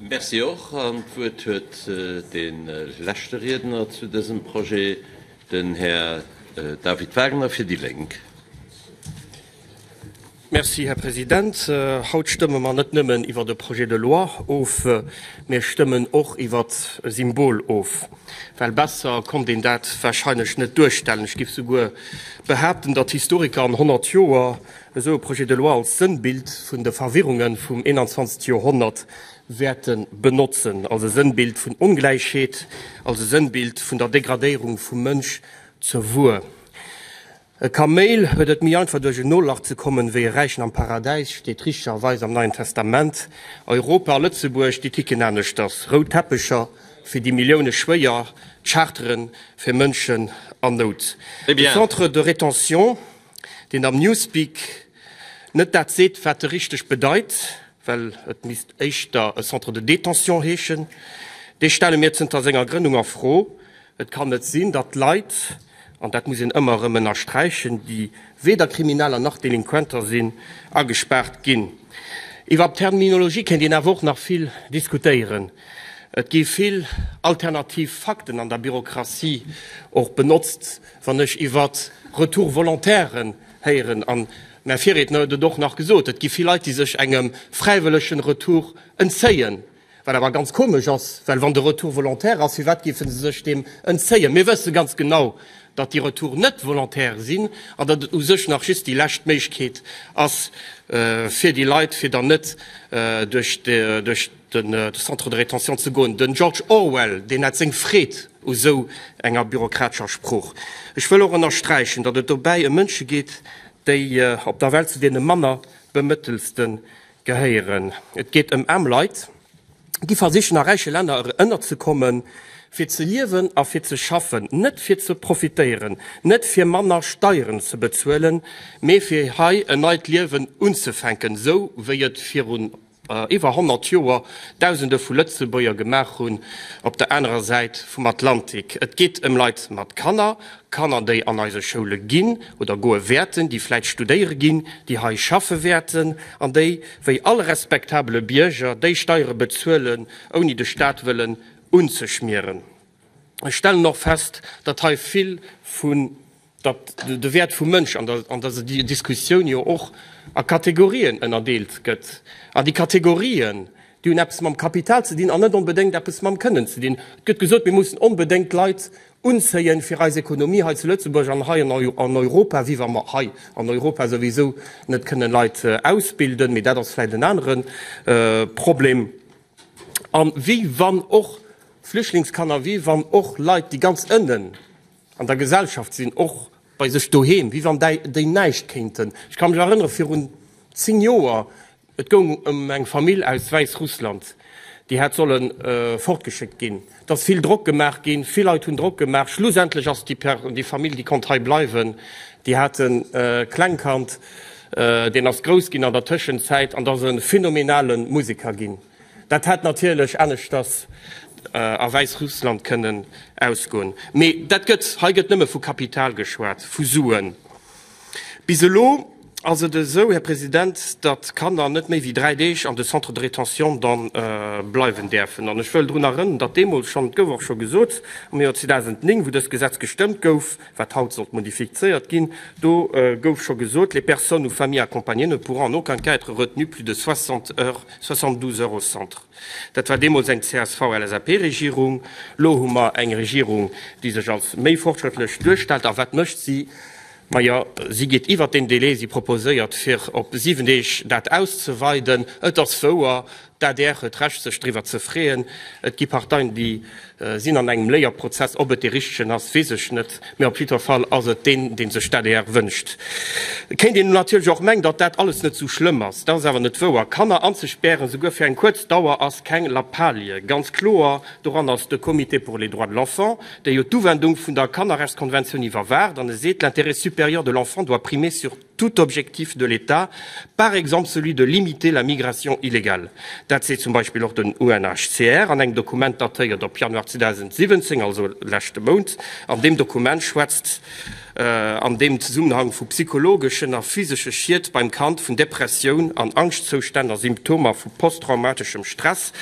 Merci och. An d'Wuert huet de leschte Riedner zu dësem Projet, den Här David Wagner fir déi Lénk. Merci, Här President. Haut stëmme mer net nëmmen iwwert e Projet de loi of, mir stëmmen och iwwert e Symbol of. Well besser konnt een dat warscheinlech net duerstellen. Ech géif souguer behaapten, datt Historiker an 100 Joer Esou e Projet de loi als Sënnbild vun de Verwirrunge vum 21. Joerhonnert wäerte benotzen, als e Sënnbild vun Ongläichheet, als e Sënnbild vun der Degradéierung vum Mënsch zur Wuer. E Kaméil huet et méi einfach duerch en Nolach ze kommen, wéi e Räichen am Paradäis, steet richtererweis am Neien Testament. Europa a Lëtzebuerg, déi ticken aneschters, rout Teppecher fir déi Millioune Schwéier, Charteren fir Mënschen an Nout, de Centre de rétention. deen am Newspeak net dat seet, wat e richteg bedeit, well et misst éischter e Centre de détention heeschen, dee stelle mir zënter senger Grënnung a Fro. Et kann net sinn, datt Leit, an dat muss een ëmmer erëm ënnersträichen, déi weder Krimineller nach Delinquenter sinn, agespaart ginn. Iwwer d'Terminologie kéint een awer och nach vill diskutéieren. Et gi vill alternativ Fakten an der Bürokratie och benotzt. Wann ech iwwert Retour Volontairen héieren, an mäi Virriedner huet et och nach gesot, et gi vill Leit, déi sech engem fräiwëllegen Retour entzéien, wat awer ganz komesch ass, well wann de Retour volontaire ass, firwat géife se sech deem entzéien? Mir wësse ganz genau, datt déi Retoure net volontaire sinn an datt et u sech nach just déi lescht Méiglechkeet ass fir déi Leit, fir dann net duerch de Centre de rétention ze goen. De George Orwell, deen hat seng Freed u sou enger bürokratescher Sprooch. Ech wëll och ënnersträichen, datt et dobäi ëm Mënsche geet, déi op der Welt zu deene manner Bemëttelste gehéieren. Et geet ëm aarm Leit, déi versichen a räiche Länner ënnerzekommen, fir ze liewen a fir ze schaffen, net fir ze profitéieren, net fir manner Steieren ze bezuelen, mee fir hei en neit Liewen unzefänken, sou wéi et virun. iwwer 100 Joer Dausende vu Lëtzebuerger gemaach hunn, op der anerer Säit vum Atlantik. Et geet ëm Leit mat Kanner, Kanner, déi an eise Schoule ginn oder goe wäerten, déi vläicht studéiere ginn, déi hei schaffe wäerten an déi, wéi all respektabele Bierger, déi Steiere bezuelen, ouni de Staat wëllen unzeschmieren. Ech stellen och fest, datt hei vill vu datt de Wäert vum Mënsch an der, an datt déi Diskussioun jo och a Kategorien ënnerdeelt gëtt, an déi Kategorien, déi hunn eppes mam Kapital ze dinn an net onbedéngt eppes mam Kënnen ze dinn. Et gëtt gesot, mir mussen onbedéngt Leit unzéien, fir eis Ekonomie hei zu Lëtzebuerg an hei an Europa, wéi wa mer hei an Europa souwisou net kënnen Leit ausbilden, mee dat ass vläicht en anere Problem, a wéi wann och Flüchtlingskanner, wéi wann och Leit, déi ganz ënnen. an der Gesellschaft sinn, och bei sech doheem, wéi wann déi näischt kéinten. Ech ka mech erënnere virun 10 Joer, et goung ëm eng Famill aus Wäissrussland, déi hätt solle fortgeschéckt ginn. Et ass vill Drock gemaach ginn, vill Leit hunn Drock gemaach. Schlussendlech ass déi Famill, déi konnt hei bleiwen, déi hat e Klengkand, deen ass grouss ginn an der Tëschenzäit an ass e phänomenale Museker ginn. Dat hätt natierlech aneschters a Wäissrussland kënnen ausgoen. Mee dat gëtt, hei gëtt nëmme vu Kapital geschwat, vu Suen. Bis elo ass et esou, Här President, datt d'Kanner net méi wéi dräi Deeg an de Centres de rétention dann bleiwen däerfen. An ech wëll drun erënnern, datt deemools schonn, et gouf och scho gesot, am Joer 2009, wou dëst Gesetz gestëmmt gouf, wat haut sollt modifizéiert ginn, do gouf scho gesot, Les personnes ou familles accompagnées ne pourront en aucun cas être retenues plus de 60 heures, 72 heures au centre. Dat war deemools eng CSV-LSAP-Regierung. Elo hu mer eng Regierung, déi sech als méi fortschrëttlech duerstellt. A wat mécht si? Majo, si geet iwwert deen Délai. Si proposéiert, fir op siwen Deeg dat auszeweiden. Et ass wouer, D'adr huet Recht sech driwwer ze freeën. Et gi Parteien déi sinn an engem Léierprozess. Ob et dee richtegen ass, weess ech net, mä op jiddwer Fall ass et deen, dee sech d'ADR wënscht. Kéint een natierlech och mengen, datt dat alles net esou schlëmm ass. Dat ass awer net wouer. Kanner anzespären, souguer fir eng kuerz Dauer, ass keng Lappalie. Ganz kloer doran ass de Comité pour les droits de l'enfant, dee jo d'Uwendung vun der Kannerrechtskonventioun iwwerwaacht an e seet, L'intérêt supérieur de l'enfant doit primer sur tout objectif de l'État, par exemple celui de limiter la migration illégale. Dat seet zum Beispill och den UNHCR an engem Dokument, datéiert op Januar 2017, also leschte Mount. An deem Dokument schwätzt an deem Zesummenhang vu psychologeschen a physesche Schied beim Kand, vun Depressioun an Angschtzoustänn a Symptomer vu posttraumatischem Stress.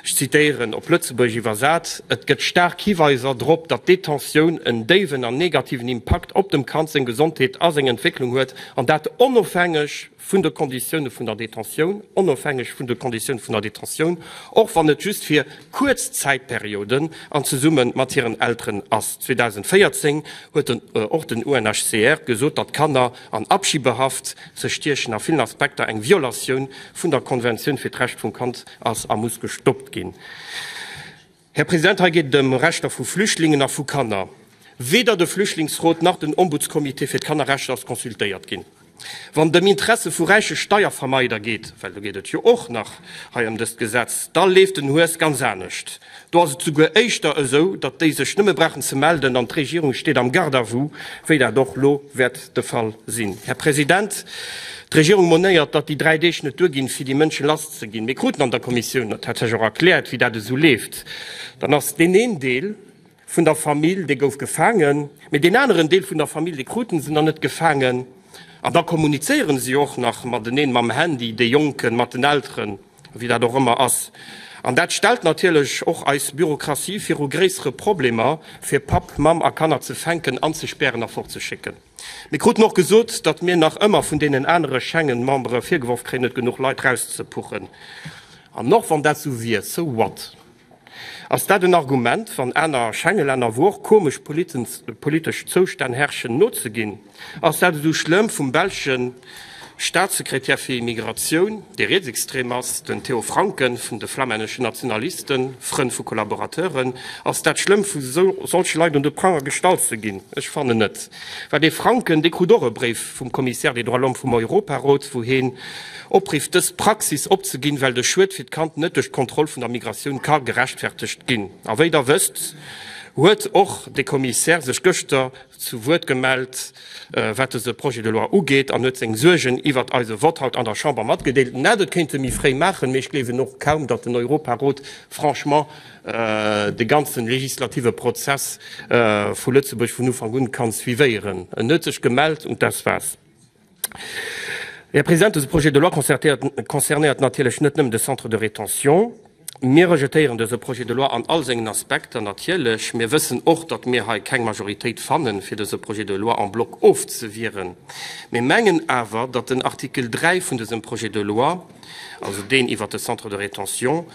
Ech zitéieren, op Lëtzebuergesch iwwersat, Et gëtt staark Hiweiser drop, datt d'Detentioun en déiwen an negativen Impakt op dem Kand seng Gesondheet a seng Entwécklung huet, an dat onofhängeg vun de Konditioune vun der Detentioun, onofhängeg vun de Konditioune vun der Detentioun, och wann et just fir kuerz Zäitperioden an zesumme mat hiren Elteren ass. 2014 huet och den UNHCR gesot, datt Kanner an Abschiebehaft ze stiechen a villen Aspekter eng Violatioun vun der Konventioun fir d'Recht vum Kand ass a muss gestoppt ginn. Här President, hei geet et ëm Rechter vu Flüchtlingen a vu Kanner. Weder de Flüchtlingsrot nach den Ombudscomité fir d'Kannerrechter ass consultéiert ginn. Wann et ëm Interesse vu räiche Steiervermeider geet, well do geet et jo och nach hei ëm dëst Gesetz, da leeft den Hues ganz anescht. Do ass et souguer éischter esou, datt déi sech nëmme brauchen ze melden an d'Regierung steet am Garde à vous, wéi dat och elo wäert de Fall sinn. Här President, d'Regierung monéiert, datt déi dräi Deeg net duerginn, fir déi Mënsche lass ze ginn. Mir kruten an der Kommissioun dat tatsächlech och erkläert, wéi dat esou leeft. Dann ass deen een Deel. vun der Famill, dee gouf gefaangen, mee deen aneren Deel vun der Famill, dee kruten se nach net gefaangen. An da kommunizéiere si och nach mateneen mam Handy, déi Jonken mat den Elteren, wéi dat och ëmmer ass. An dat stellt natierlech och eis Bürokratie viru gréissere Problemer, fir Papp, Mamm a Kanner ze fänken, anzespären a fortzeschécken. Mir kruten och gesot, datt mir nach ëmmer vun deenen anere Schengen-Membere virgeworf kréien, net genuch Leit rauszepuchen. An och wann dat esou wier, so what? Ass dat en Argument, wann aner Schengelänner, wou och komesch politesch Zoustänn herrschen, nozeginn? Ass dat esou schlëmm, vum belsche Staatssekretär fir Immigratioun, dee rietsextrem ass, den Theo Francken, vun de flamänneschen Nationalisten, Frënn vu Kollaborateuren, ass dat schlëmm, vu solche Leit un de Pranger gestallt ze ginn? Ech fannen net. Well dee Francken, dee krut och e Bréif vum Commissaire des droits de l'homme vum Europarot, wou heen, Opriff dës Praxis opzeginn, well de Schued fir d'Kand net duerch d'Kontroll vun der Migratioun ka gerechtfertegt ginn. A wéi Der wësst, huet och de Commissaire sech gëschter zu Wuert gemellt, wat dëse Projet de loi ugeet, an huet seng Suergen iwwert eise Vott haut an der Chamber matgedeelt. En hätt et kéinte méi fréi maachen, mee ech gleewen och kaum, datt den Europarot franchement de ganze legislative Prozess vu Lëtzebuerg vun Ufank un ka suivéieren. En huet sech gemellt, und das war's. Här President, dëse Projet de loi concernéiert natierlech net nëmmen de Centre de rétention. Mir rejetéieren dëse Projet de loi an all sengen Aspekter natierlech. Mir wëssen och, datt mir hei keng Majoritéit fannen, fir dëse Projet de loi en bloc ofzewieren. Mir mengen awer, datt den Artikel 3 vun dësem Projet de loi, also deen iwwert de Centre de rétention,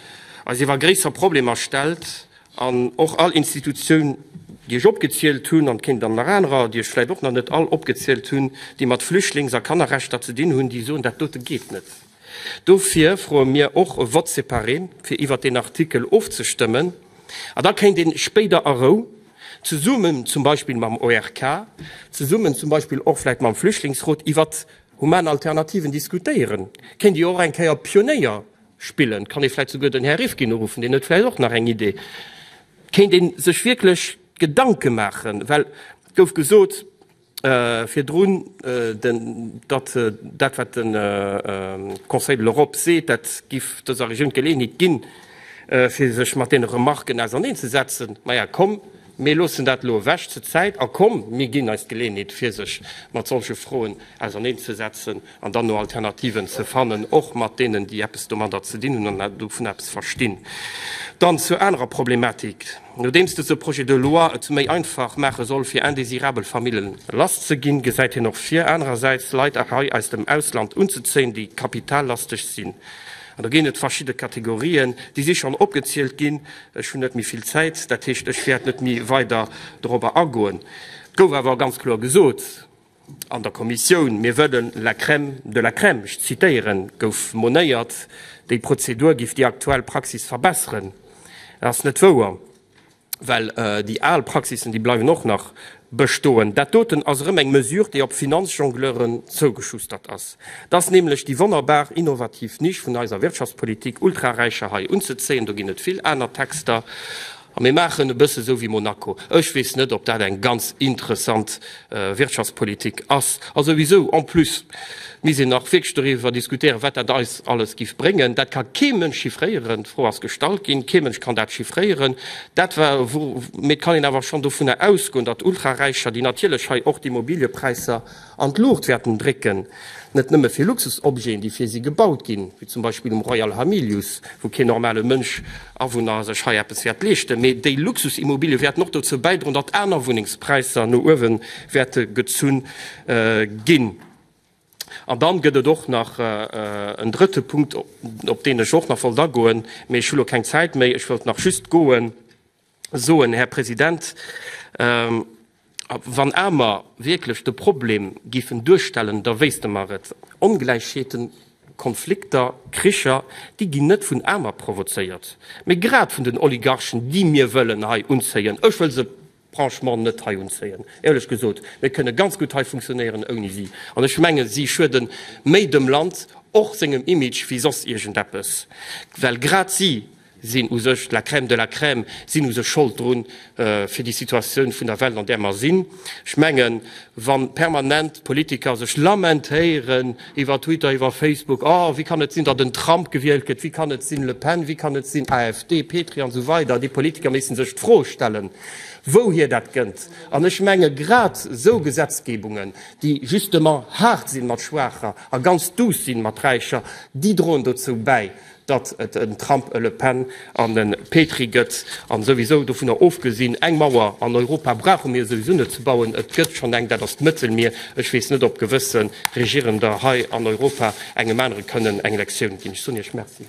eis iwwer gréisser Problemer stellt An och all Institutioun, déi ech opgezielt hunn, an et kéint dann nach anerer, déi ech vläit och nach net all opgezielt hunn, déi mat Flüchtlings a Kannerrechter ze dinn hunn, déi soen, dat dote geet net. Dofir froe mir och e Vote séparé, fir iwwert deen Artikel ofzestëmmen. A da kéint ee spéider a Rou, zesummen zum Beispill mam ORK, zesummen zum Beispill och vläit mam Flüchtlingsrot, iwwert human Alternativen diskutéieren. Kéint Dir och eng Kéier Pionéier Spillen. Kann ee vläit souguer den Här Rifkin uruffen, deen huet vläit och nach eng Idee. Kéint ee sech wierklech Gedanke maachen, well et gouf gesot virdrun, datt dat, wat de Conseil de l'Europe seet, dat géif dëser Regioun d'Geleeënheet ginn, fir sech mat deene Remarken auserneen ze setzen. Maja komm! Mir loossen dat elo ewech zur Zäit a komm, mir ginn eis d'Geleeënheet, fir sech mat solche Froen auserneenzesetzen an dann no Alternativen ze fannen, och mat deenen, déi eppes domadder ze dinn hunn an dovun eppes verstinn. Dann zur anerer Problematik. Nodeems dëse Projet de loi et méi einfach maache soll, fir indésirabel Famillen lass ze ginn, gesäit hien och vir, anerersäits Leit hei aus dem Ausland unzezéien, déi kapitallastig sinn. An do ginn et verschidde Kategorien, déi si schonn opgezielt ginn, Ech hunn net méi vill Zäit, dat heescht, ech wäert net méi weider dorobber agoen. Et gouf awer ganz kloer gesot an der Kommissioun, Mir wëllen la crème de la crème, ech zitieren, gouf monéiert, déi Prozedur géif déi aktuell Praxis verbessern. Dat ass net wouer, well déi al Praxissen, déi bleiwen och nach bestoen. Dat doten ass erëm eng Mesure, déi op Finanzjongleuren zougeschustert ass. T'ass nämlech déi wonnerbar innovativ Nisch vun eiser Wirtschaftspolitik, Ultraräicher hei unzezéien. Do ginn et vill aner Texter a mir maachen e bësse sou wéi Monaco. Ech weess net, ob dat eng ganz interessant Wirtschaftspolitik ass. A souwisou, en plus, misst een nach wierklech doriwwer diskutéieren, wat dat eis alles giff bréngen. Dat ka kee Mënsch chiffréieren. D'Fro ass gestallt ginn, kee Mënsch kann dat chiffréieren. Dat wa, mee et kann een awer schonn dovunner ausgoen, datt Ultraräicher, déi natierlech hei och d'Immobiliëpräisser, an d'Luucht wäerten drécken, net nëmme fir Luxusobjeten, déi fir si gebaut ginn, wéi zum Beispill um Royal Hamilius, wou keen normale Mënsch, Awunner, sech hei eppes wäert leeschten, mee déi Luxusimmobilië wäerten och dozou bäidroen, datt aner Wunnengspräisser no uewe wäerte gezunn ginn. An dann gëtt et och nach en drëtte Punkt, op deen ech och nach wollt agoen, mee ech hu lo keng Zäit méi, ech wëllt nach just goen, soen, Här President, wann amer wierklech de Problem géifen duerstellen, da wéisste mer et, Ongläichheeten, Konflikter, Kricher, déi ginn net vun amer provozéiert, mä grad vun den Oligarchen, déi mir wëllen hei unzéien. Ech wëll se franchement net hei unzéien, éierlech gesot. Mir kënne ganz gutt hei funktionéieren ouni si. An ech menge si schuede méi dem Land, och sengem Image, wéi soss iergendeppes, well grad si, sinn u sech d'la crème de la crème, sinn u sech Schold drun, fir déi Situatioun vun der Welt, an där mer sinn. Ech mengen, wa permanent d'Politiker sech lamentéieren iwwer Twitter, iwwer Facebook, Oh, wéi kann et sinn, datt en Trump gewielt gëtt? Wéi kann et sinn, Le Pen? Wéi kann et sinn, AfD, Petry an esou weider? Déi Politiker missten sech d'Fro stellen, wouhier dat kënnt. An ech menge grad esou Gesetzgebungen, déi justement haart sinn mat Schwaacher a ganz duuss sinn mat Räicher, déi droen dozou bäi, datt et en Trump, e Le Pen an e Petry gëtt, an souwisou dovunner ofgesinn, eng Mauer an Europa brauche mir souwisou net ze bauen, et gëtt schonn eng, dat ass d'Mëttelmier. Ech weess net ob gewësse Regierender hei an Europa engem anere kënnen eng Lektioun ginn. Ech soen Iech Merci.